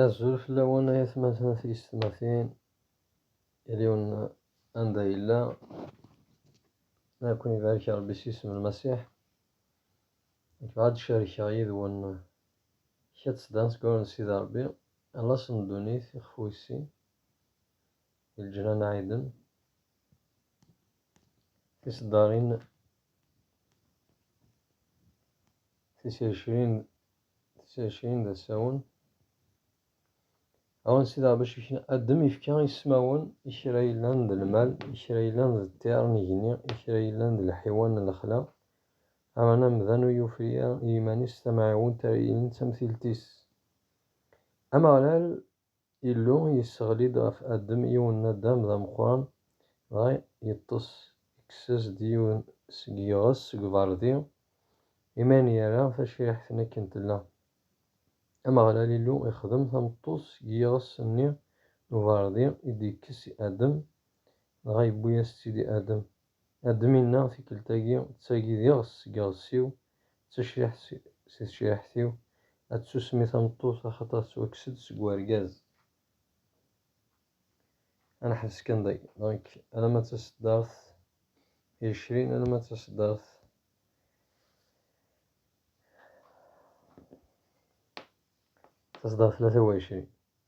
Azul fell-awen ay atmaten tiyessetmatin, yal-yiwen anda yella, ad ken-ibarek Rebbi s yisem n Lmasiḥ. Nekk bɣiɣ ad d-carkeɣ yid-wen kra n tseddan seg wawal n Sidi Rebbi, Alas n ddunit, ixef wis-sin, di leǧnan ɛiden, tiseddarin tisircrin, Tisercin d asawen. Awen sidaɣ bac ikna addem ifka ismawen i kra yellan d lmal, i kra yellan d ṭṭir n igenni, i kra yellan d lḥiwan n lexla. Aman amdan ur yufri i yiman-is tamɛiwent ara yilin d tamtilt-is. Ameɣlal Illu yesseɣli-d ɣef Adem yiwen n Adam d ameqqran, dɣa yeṭṭes, ikkes-as-d yiwen seg yiɣes seg ubeṛdi, imi ayen yerra tacriḥt-nni akken tella. Ameɣlal Illu ixdem tameṭṭut seg yiɣes-nni n ubeṛdi i d-yekkes i Adem, dɣa yewwi-as-tt-id i Adem. Adem inna, Tikkelt-agi, d tagi d iɣes seg iɣes-iw, D tacriḥt si tecriḥt-iw, ad tsusem i tameṭṭut axaṭer tettwakkes-d seg urgaz. Ad neḥbes kan dagi, donc alamma d taseddart icrin, alamma d taseddart taseddart tlata u εecrin.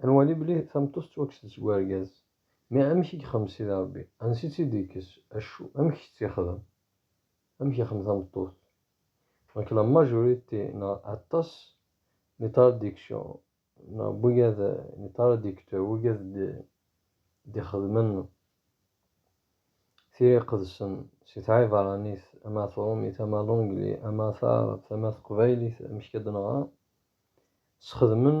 Ad nwali belli tameṭṭut tettwakkes-d seg urgaz. Mi amek i yexdem Sidi Ṛebbi? Ansi-tt i d-yekkes? Acu? Amek i tt-yexdem? Amek yexdem tameṭṭut? Donc la majorité neɣ aṭas n itraductions neɣ n wigad n itraducteurs wigad d-ixedmen tira iqedsen si tɛibeṛanit ama tṛumit ama l'anglais ama taɛrabt ama teqbaylit amek i d-neɣra, sxedmen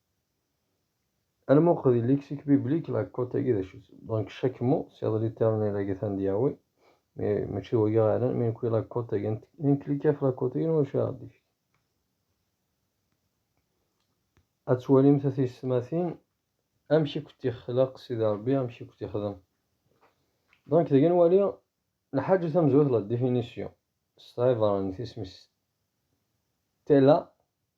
Alma uqdi lexique biblique la cote agi d acu-t? Donc chaque mot c'est l'éternel agi tan d Yahweh mais mačči d wagi ara yellan mais nekwi la cote agi nklik ɣef la cote agi n wacu ara d-ifk. Ad twalim tatistmatin amek i kent-ixlaq Sidi Rebbi amek i kent-ixdem. Donc dagi nwali nḥaǧu tamezwayt la définition s tɣibaṛ n tismis tella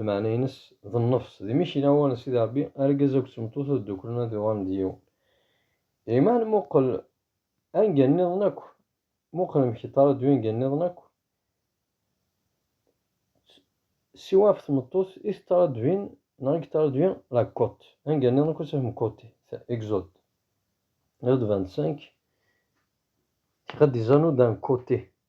lmeɛna-ines d nnefs, d mmi-k i lawan n Sidi Ṛebbi, argaz akked tmeṭṭut ad dduklen ad uɣalen d yiwen. Iman muqel anga nniḍen akk, muqel amek yeṭṭaraddu anga nniḍen akk, siwa ɣef tmeṭṭut i teṭṭaraddvin neɣ i yeṭṭaraddvi la côte, anga nniḍen akk ad tafem côté, Exode. Exode 25, Tiqaddizanu d'un côté.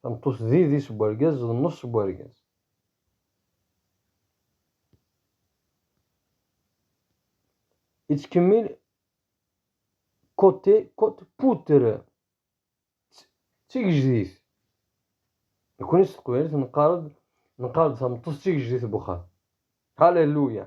Tameṭṭut d idis n wergaz d nneṣ n wergaz. Yettkemmil côté, côte, poutre. D tigejdit. Nekkni s teqbaylit neqqar-d neqqar-d tameṭṭut d tigejdit n wexxam. Alléluia.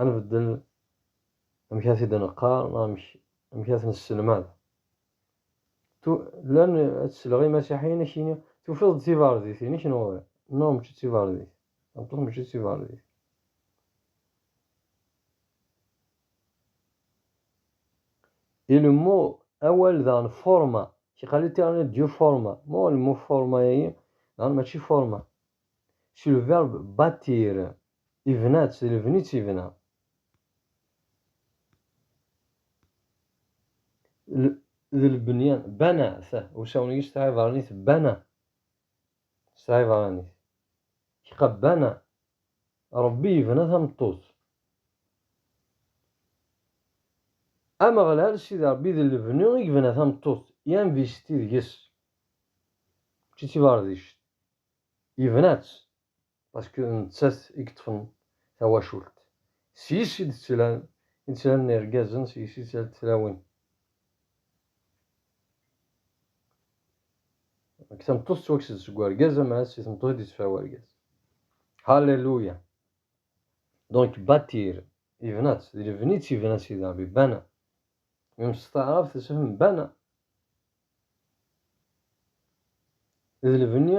ad nbeddel amek ara t-id-neqqar neɣ amek amek ara t-nesselmad. Tu llan ad tesleɣ imasiḥiyen ad k-yini tufiḍ-d tiberdit-inek neɣ ur neɣ mačči d tiberdit, tameṭṭut mačči d tiberdit. Ilemmu awal daɣen forma, kiqali terni du forma, mo lemmu forma-agi daɣen mačči forma. Sur le verbe bâtir. Ibna-tt, d lebni i tt-ibna. D lebni, bana, t, usawen-agi s tɛibranit bana, s tɛibranit, kqa bana, Ṛebbi yebna tameṭṭut. Ameɣlal, Sidi Ṛebbi, d lebni i yebna tameṭṭut, i anvesti deg-s, mačči d tibeṛdict, yebna-tt. Paske d nettat i yeṭṭfen tawacult. Seg-s i d-ttlan i d-ttlan irgazen, seg-s i d-ttlant tlawin. Deg tameṭṭut tettwakkes-d seg urgaz, ama si tmeṭṭut i d-yettefra urgaz. Hallelujah! Donc bâtir, yebna-tt, d lebni i tt-yebna Sidi Ṛebbi, bana. Même s taɛrabt isem bana. D lebni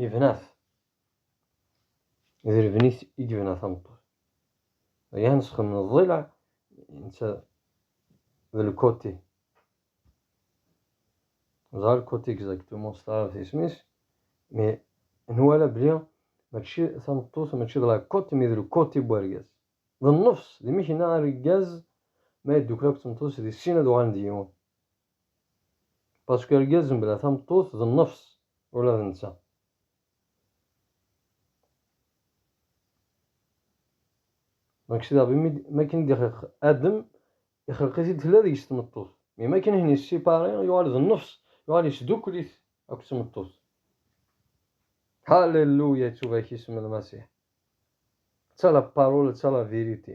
Yebna-t. D lebni-s i yebna tameṭṭut. Aya nesxen n ḍḍileɛ netta d lkuti. Ẓer lkuti exactement s taɛrabt isem-is, mais nwala bli mačči tameṭṭut mačči d la côte mais d lkuti n wergaz. D nnefs, d imekna argaz ma yeddukkel akked tmeṭṭut-is di sin ad uɣalen d yiwen. Pasku argaz mebla tameṭṭut d nnefs ula d netta. Donc c'est-à-dire bimi makin d-ixeq Adem ixelq-it-id tella deg-s tmeṭṭut. Mais makin ihin yessipaṛi yuɣal d nnefs yuɣal yesdukkel-it akked tmeṭṭut. Halleluya ittubak isem n Lmasiḥ. Ţa la parole ţa la vérité.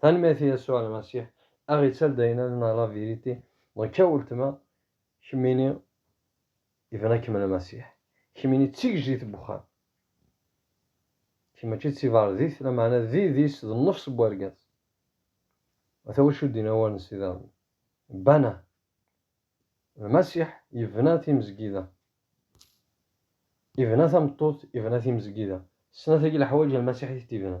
Tanemmirt i Yasuɛ Lmasiḥ, a ɣ-ittal d ayen ad neɣ la vérité. Donc a weltma, kemmini ibna-kem Lmasiḥ, kemmini d tigejdit n wexxam. Kemm mačči d tiberdit, lameɛna d idis, d nnefs n wergaz. Ata wacu d-yenna wawal n Sidi Ṛebbi, Bana Lmasiḥ, yebna timezgida, ibna tameṭṭut, ibna timezgida. Snat-agi leḥwayeǧ Lmasiḥ i t-ibna,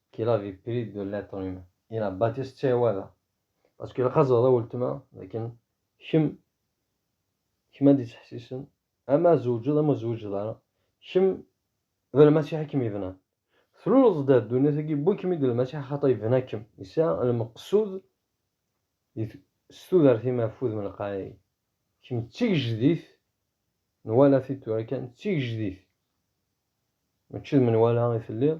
qu'il avait pris de l'être humain il a bâti ce tiwada parce que la de ultima lakin kim kim a dit tahsisen ama zewjed ama zewjed ara kim d lmasiḥ kim ibna tluleḍ d ddunit agi bu kim id lmasiḥ xata ibna kim yesɛa lmeqsud s tudert ima afud min lqaɛi kim d tigejdit nwala-t-id tura kan d tigejdit mačči d menwala i telliḍ